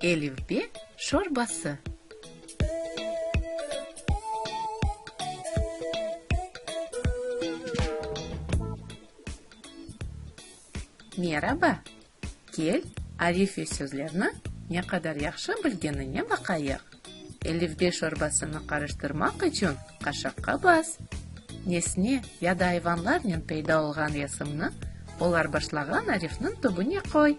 Elifbe şorbası. Meraba, kel, Alife sözlerni ne qadar yahşı bilgenine baqayıq. Elifbe şorbasını qarıştırmaq içün qaşaqqa bas. Nesne ya da ayvanlarnen peyda olğan yasımnı olar başlağan arifniñ tübüne qoy.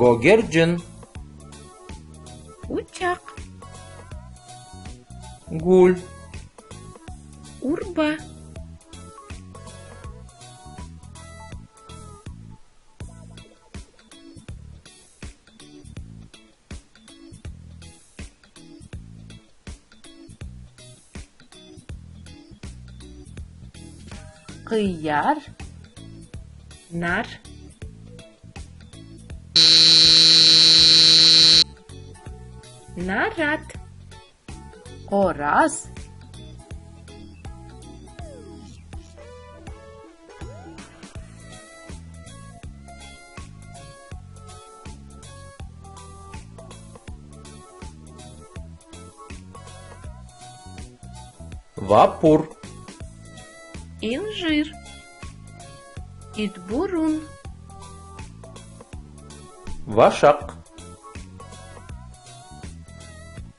Gögercin. Uçaq. Gül. Urba. Qıyar, nar. Narat, qoraz. Vapur. İncir. İtburun. Vaşaq.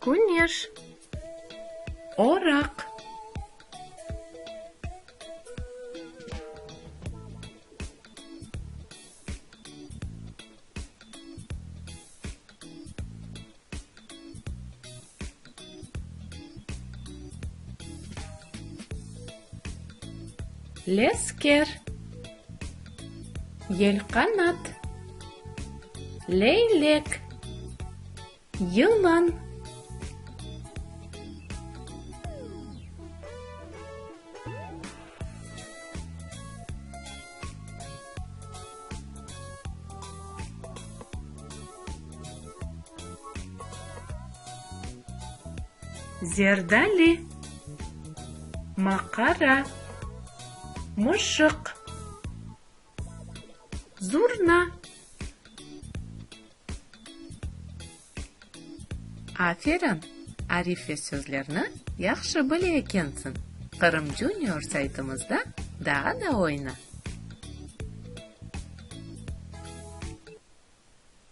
Küneş, oraq. Lesker, yelqanat. Leylek. Yılan. Zerdali. Maqara. Mışıq. Zurna Aferin, arif ve sözlerni yahşı bile ekensiñ. Qırım Junior saytımızda daa da oyna!